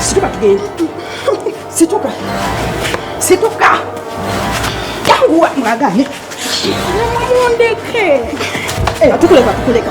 Situka tugende. Situka. Situka. Yanguwa mwagane. Mundeke. Eh, tukuleka tukuleka.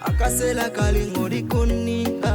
akasela kali ng'olikunnimpa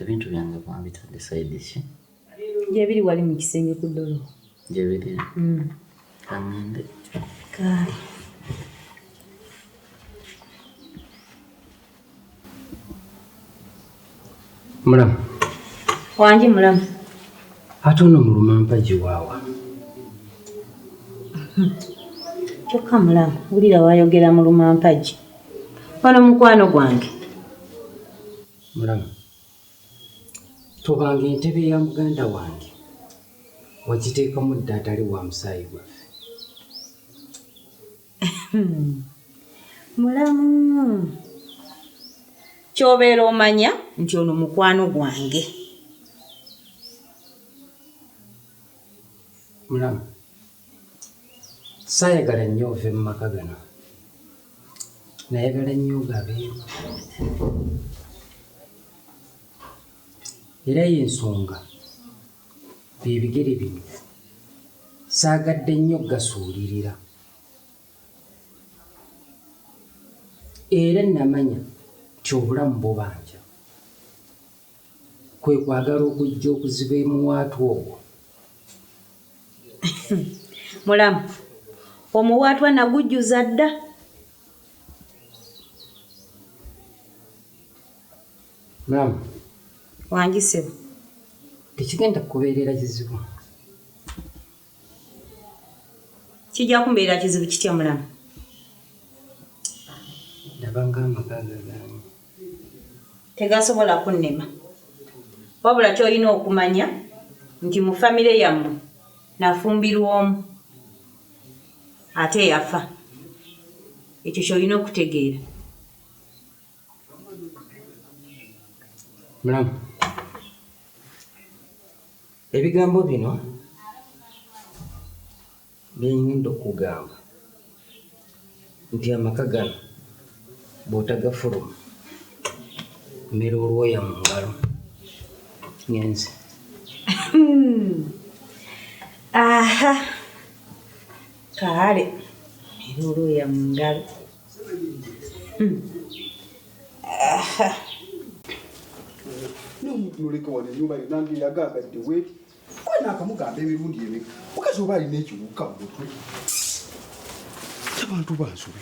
Ebintu byange mwabitadde side ki? Gyebiri wali mu kisenge ku dolo. Gyebiri? Mm. Kangende. Kaali. Mulamu. Wangi mulamu. Ate ono muluma mpagi waawa. Kyokka mulamu, wulira wayogera muluma mpagi. Wano mukwano gwange. Mulamu, tobanga entebe ya muganda wange, wagiteekamu dda atali wa musaayi gwaffe. Mulamu, ky'obeera omanya nti ono mukwano gwange. Mulamu. saayagala nnyo ove mu maka gano nayagala nnyo gabeeru era y'ensonga byebigere bino saagadde nnyo gasuulirira era namanya nti obulamu bubanja kwe kwagala okujja okuziba emuwaatwa ogwo. Mulamu, omuwaatwa nagujjuza dda. Mulamu. Wangi ssebo. Tekigenda kukubeerera kizibu. Kijja kumbeera kizibu kitya mulamu? Ndabanga amaka gagaanyi. Tegasobola kunnema. Wabula ky'olina okumanya nti mu famire yammwe nafumbirwa omu ate yafa. Ekyo ky'olina okutegeera. Mulamu. Ebigambo bino bye ngenda okukugamba nti amaka gano bw'otagafuluma mmera olwoya mu ngalo ngenze. Aha! Kaale mmera olwoya mu ngalo. noleka wano enyumba yo nange yagagadde weti wena akamugamba emirundi eme mukazi oba alina ekiwuka mu mutwe abantu bansobe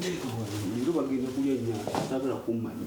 leero bagenda kulya nyama sagala kummanya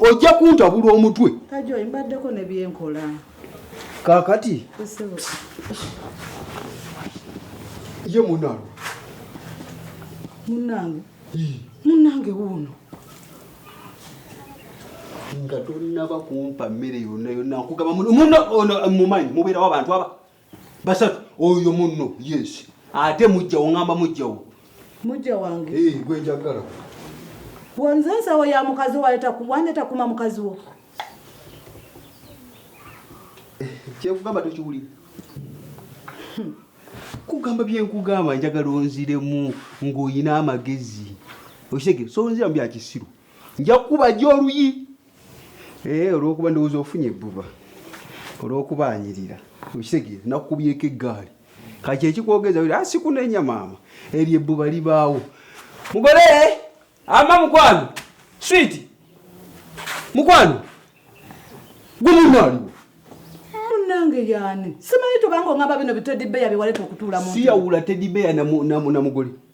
ojja kuntabula omutwe kajoyi mbaddeko ne byenkola kakati ye munange munange munange wuuno nga tonaba kumpa mmere yonna yonna nkugamba muno ono mumanyi mubeerawo abantu aba basatu oyo munno yes ate mujjawo ngamba mujjawo mujja wange eh, gwe njagala wonze ensawo ya mukazi wandeta kuma mukazi wo eh, kyekugamba tokiwulira hmm. kugamba byenkugamba njagala onziremu ng'olina amagezi okitege so onziramu byakisiru nja kukuba gy oluyi Eh, olwokuba ndowooza ofunye ebbuba olwokuba anyirira okitegeera nakukubyeko eggaali kati ekikwogeza ah, sikunenya maama eryo ebbuba libaawo mugole ama mukwano switi mukwano gumunaaliwo munange yani simanyi tubanga ongamba bino bitedibeya byewaleta okutuula siyawula tedibeya na mugole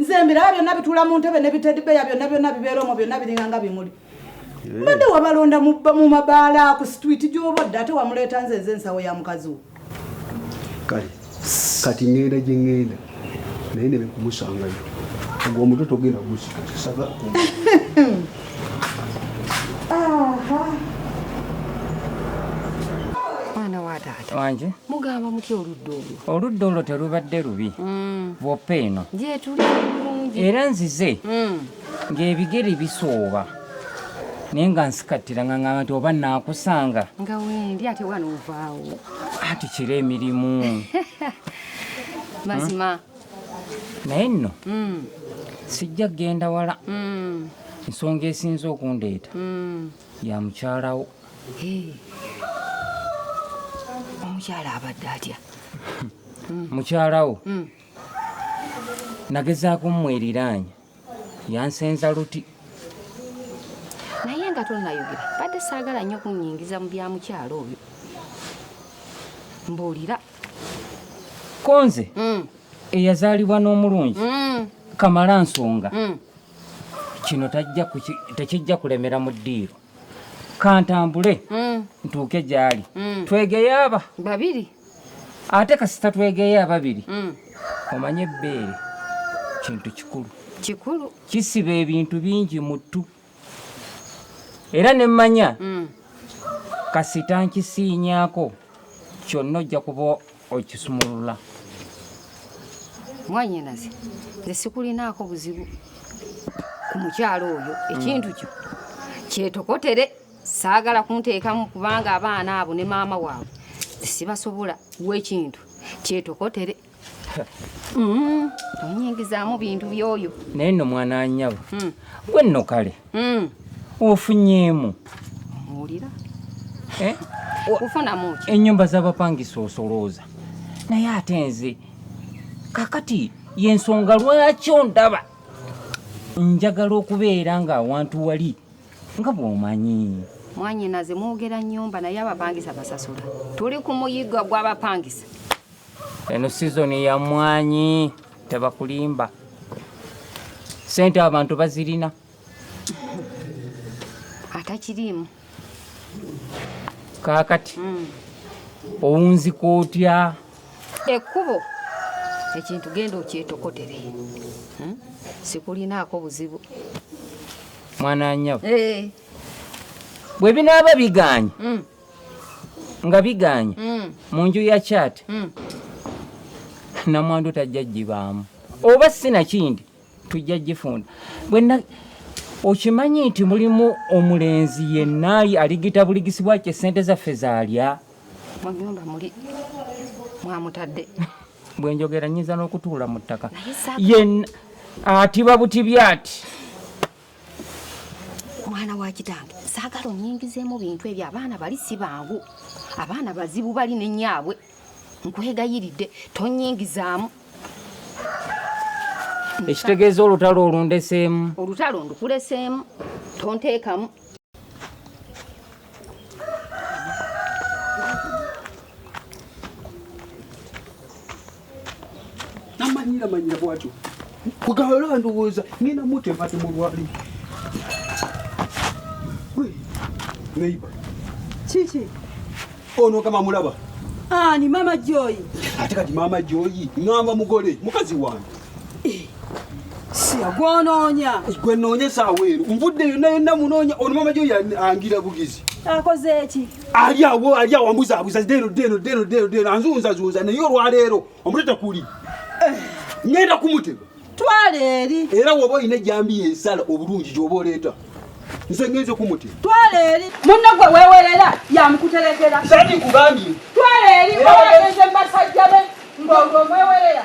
nze mbiraba byonna bitula mu ntebe ne bitedibeya byonna byonna bibeera omwo byonna biringanga bimuli eh. mbadde wabalonda mu mabaala ku situiti gyobodde ate wamuleeta nze nze ensawo ya mukazi wo kale kati ŋŋenda gye ŋŋenda naye ne bekumusangayo ogwo omutwe togenda gusisaga mwana wa taata wanje mugamba mutya oludda olwo oludda olwo terubadde lubi mm. bwoppa eno era nzize mm. ng'ebigere bisooba naye nga nsikattira nga ngamba nti oba naakusanga nga wendi ate wana ovaawo ati kira emirimu mazima hmm? naye nno mm. sijja kugenda wala nsonga esinza okundeeta ya mukyalawo omukyala abadde atya mukyalawo hmm. nagezaako mmweriraanya yansenza luti naye nga tonayogera badde saagala nnyo kunyingiza mu bya mukyalo oyo mbuulira konze hmm. eyazaalibwa n'omulungi hmm. kamala nsonga kino tekijja kulemera mu ddiiro kantambule mm. ntuuke gyali mm. twegeye aba babiri ate kasita twegeye ababiri mm. omanye ebbeere kintu kikulu kikulu kisiba ebintu bingi muttu era ne mmanya kasita nkisiinyako kyonna ojja kuba okisumulula mwanyinaze nze sikulinaako buzibu ku mukyalo oyo ekintu kyo kyetokotere saagala kunteekamu kubanga abaana abo ne maama waabwe sibasobola wekintu kyetokotere mm-hmm. onyingizaamu bintu byoyo naye no mwana anyabo hmm. gwe nno kale mm. ofunyeemu owulira eh? ofunamu ki ennyumba z'abapangisa osolooza naye ate nze kakati yensonga lwaki ondaba njagala okubeera ng'awantu wali nga bw'omanyi mwanyinaze mwogera nyumba naye abapangisa basasula tuli ku muyigga gw'abapangisa eno sizoni ya mwanyi tebakulimba sente abantu bazirina atakiriimu kakati mm. owunzika otya ekkubo ekintu genda okyetokotere hmm? sikulinaako buzibu mwana nyabo eh. bwe binaaba biganye hmm. nga biganye mm. mu nju ya chat mm. namwandu tajja gibaamu oba sinakindi tujja gifunda bwena okimanyi nti mulimu omulenzi yenna aligita buligisibwa kye sente zaffe zalya munyumba muli mwamutadde bwenjogera nyinza n'okutuula mu ttaka yenna atiba buti byati mwana wa kitange saagala onyingizeemu bintu ebyo abaana bali si bangu abaana bazibu bali ne nyaabwe nkwegayiridde tonyingizaamu ekitegeeza olutalo olundeseemu olutalo ndukuleseemu tonteekamu namanyira manyira bwatyo kugala ndowooza ngenda mutempate mulwali neiba kiki ono kama mulaba ani mama joyi ate kati mama joyi ngamba mugole mukazi wange eh, siagwononya eh, gwe nonya saawa ero nvudde yonna yonna munonya ono mama joyi angira bugizi akoze eki ali awo ali awo ambuza abuza dero dero dero dero dero anzunza zunza naye olwaleero omutata kuli eh. ngenda kumutega twala eri era woba olina ejambiya ensala obulungi gyoba oleeta nze ngenze kumutega twala eri munne gwe wewerera yamukuterekera sani nkugambye twala eri owagenze mubasajja be ngolwo mwewerera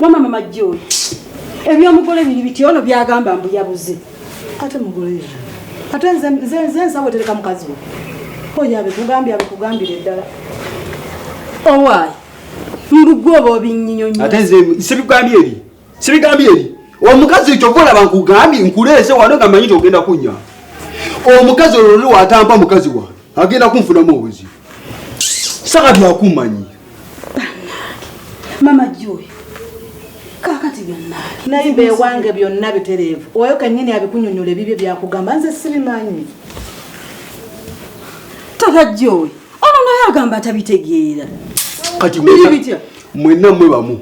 Wama mama Joy. Ebyomugole biri biti ono byagamba mbu yabuze. Ate mugole yeye. Ate nze nze nze nsawe tereka mukazi we. Oya be kugambya be kugambira eddala. Owai. Mbu gwo bobi nyinyo nyinyo. Ate nze sibigambye eri. Sibigambye eri. Omukazi ekyo vola bankugambye nkuleese wano nga manyi ogenda kunya. Omukazi olwo watampa mukazi wa. Agenda kunfunamu obuzibu. saka byakumanyi mama joy kakati byonna naye bewange byonna bitereevu oyo kenyini abikunyonyola ebibyo byakugamba nze sibimanyi tata joy ono naye agamba atabitegeera kati bitya mwenna mwe bamu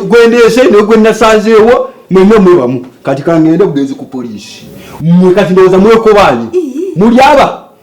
gwendeese naye gwenasanzeewo mwenna mwe bamu kati kangende bugenzi ku poliisi mwe kati ndowooza mwekobaanyi mulyaba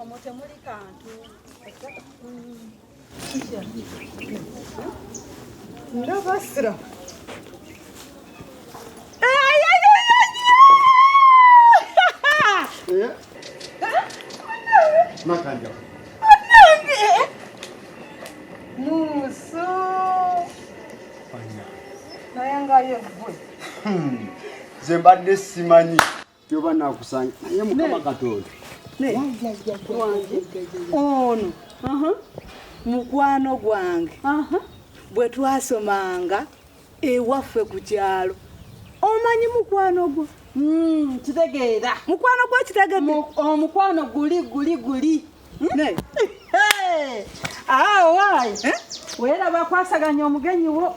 omwo temuli kantu ndabasira Makanja. Muso. Fanya. Naye nga yegwe. Hmm. Zembadde simanyi. Kyoba nakusanga naye mukama Katonda. Naye wange ono uh-huh. mukwano gwange uh-huh. bwe twasomanga ewaffe ku kyalo omanyi mukwano gwo hmm, kitegeera mukwano gwo kitegede omukwano oh, guli guli guli hmm? awo ah, waayi eh? weera bakwasaganya omugenyi wo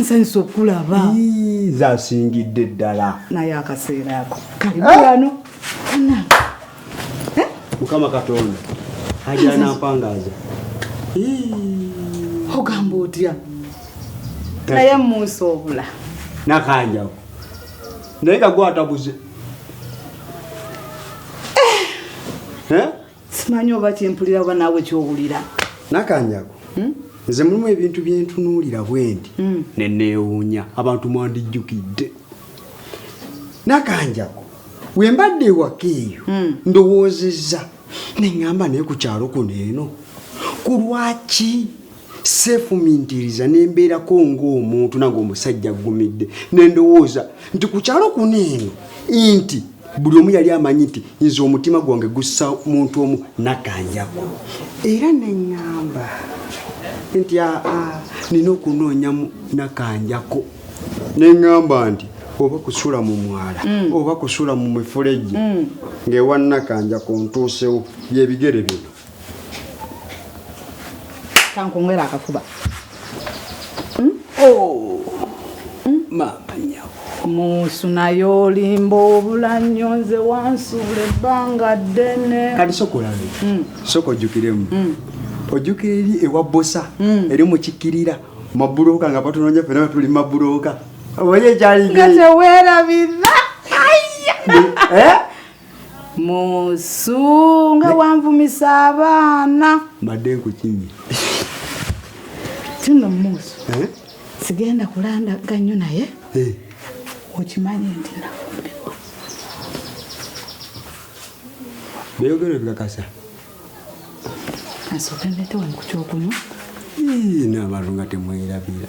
nsanyusa okulaba nze asingidde ddala naye akaseera ako kalibano eh? mukama katonda ajanampangaaza ogamba otya naye munsi obula nakanjawo naye nga gwatabuze eh? Eh? simanyi oba kyempulira oba naawe kyowulira nakanjago hmm? nze mulimu ebintu byentunuulira bwendi hmm. neneewuunya abantu mwandijjukidde nakanjago wembadde ewaka eyo hmm. ndowoozezza neŋŋamba naye ku kyalo kuno eno ku lwaki seefumiitiriza ne mbeerako ng'omuntu nange omusajja aggumidde ne ndowooza nti ku kyalo kuno eno nti buli omu yali amanyi nti nze omutima gwange gussa muntu omu nakanjako era ne ŋŋamba nti aa nina okunoonyamu nakanjako ne ŋŋamba nti oba kusula mu mwala mm. oba kusula mu mifulejje mm. ng'ewa nakanjako ntuusewo byebigere bino kankungera akafuba hmm? oh. hmm? maama nyabo musu naye olimba obula nnyo nze wansuula ebbanga ddene kati sokolabe hmm. soka ojjukiremu ojjukira eri ewa bosa eri mukikirira mabuloka nga batunonya fena tuli mabuloka oye kyali nga tewerabira eh? musunga wanvumisa abaana mbadde nkukinye kino musu eh? sigenda kulandaga nnyo naye eh. okimanyi nti nafumbirwa beyogero ebikakasa asooke ndetewankukyokunu naabantu nga temwerabira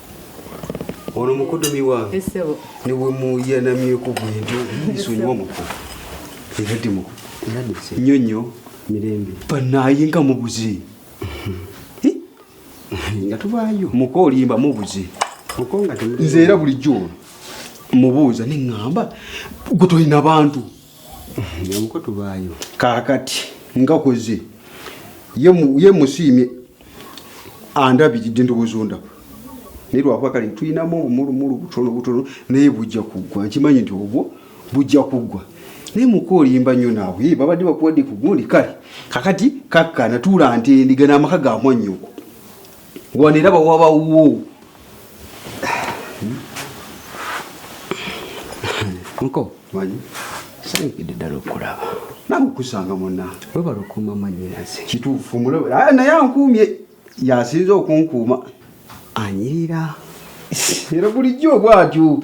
Ono mukodomi wange eh, ne bwe muyanamyeko bwentyo nsonyiwa muko era ti muko nnyo nnyo mirembe banaye nga mubuze eh? nga tubaayo muko olimba mubuze nze era bulijjo mubuuza ne ŋŋamba gwe tolina bantu nyamuko tubaayo kakati ngakoze ye musiimye andabiridde ndowooza ondaba naye lwakuba kale tulinamu obumulumulu butono butono naye bujja kuggwa nkimanyi nti obwo bujja kuggwa naye muka olimba nnyo naawe babadde bakuwadde ku gundi kale kakati kakkana tuula nti endiga n'amaka gamwanyoko wano era bawabawo nko sanikidde ddala okulaba nange okusanga muna webala okuuma manyinaze kituufu ah, naye ankuumye yasinza okunkuuma anyirira era bulijjo obwatyo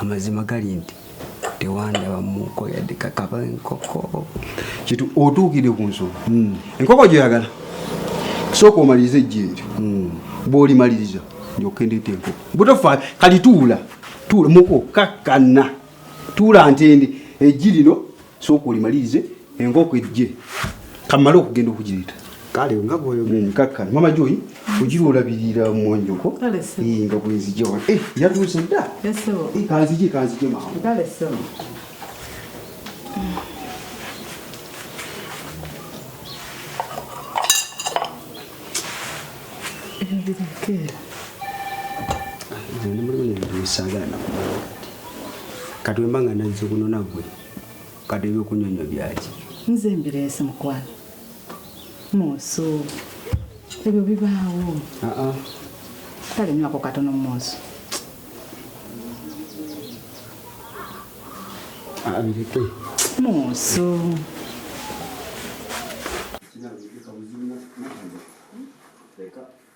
amazima gali nti tewandaba muko yadde kakaba enkoko kitu otuukidde ku nsonga hmm. enkoko gyoyagala sooka omaliriza ejjeeri hmm. bwolimaliriza ndyokendete enkoko butofa kali tuula tuula muko kakkana tuula ntende ejji lino sooka olimalirize enkoko ejje kamale okugenda okugireta kale nga bwoyogenkakka mama joyi ogira olabirira mumwonjoko nga bwenzija wa eh, yatuuse dda eh, kanzije kanzije mangu kati wemba nga nazze kuno nagwe kati ebyokunyonyo byaki nze mbireese mukwano munsu ebyo bibaawo kale nywako katono munsu abireke munsu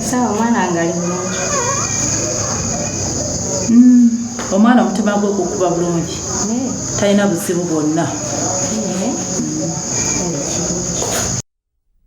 sawa omwana wange ali bulungi hmm, omwana omutima gwe gukuba bulungi talina buzibu bwonna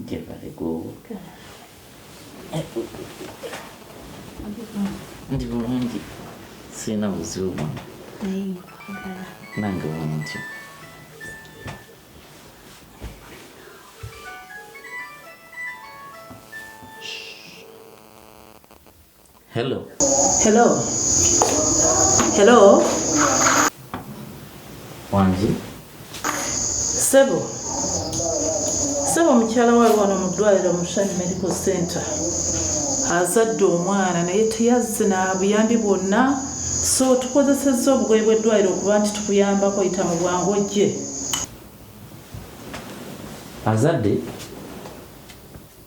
Njebale gwowoka. Ndi bulungi sirina buzibu bwona. Nange bwentyo. Hello. Hello. Hello. Wangi. Sebo. Sebo mukyala wa wano mu ddwaliro mu Shani Medical Center. Azadde omwana naye teyazze na buyambi bwonna so tukozesezza obugoye bw'eddwaliro okuba nti tukuyambako yita mu bwangu ojje. Azadde.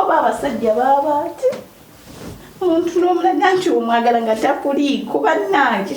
oba abasajja baaba ati omuntu n'omulaga nti omwagala nga takuliiko bannange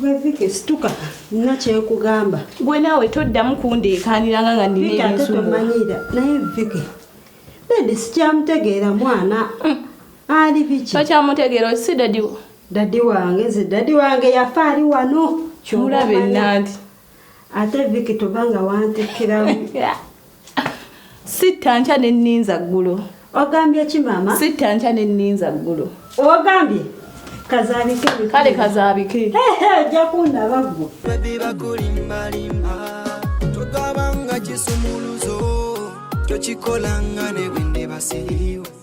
Gwe Vicky situka nina kyekugamba. Gwe naawe toddamu kundeekaaniranga nga nina ebinsumbula. Tomanyira naye Vicky dadi sikyamutegeera mwana hmm. ali biki. Tokyamutegeera osi dadi wo. Dadi wange nze dadi wange yafa ali wano. Kyolabe nanti. ate viki toba nga wantikkiramu sitta nkya ne nninza ggulo ogambye ki maama sitta nkya ne nninza ggulo ogambye kazabike kale kazabike ojja kundaba gwo bakulimbalimba togabanga kisumuluzo tokikolanga ne bwendebasiriwo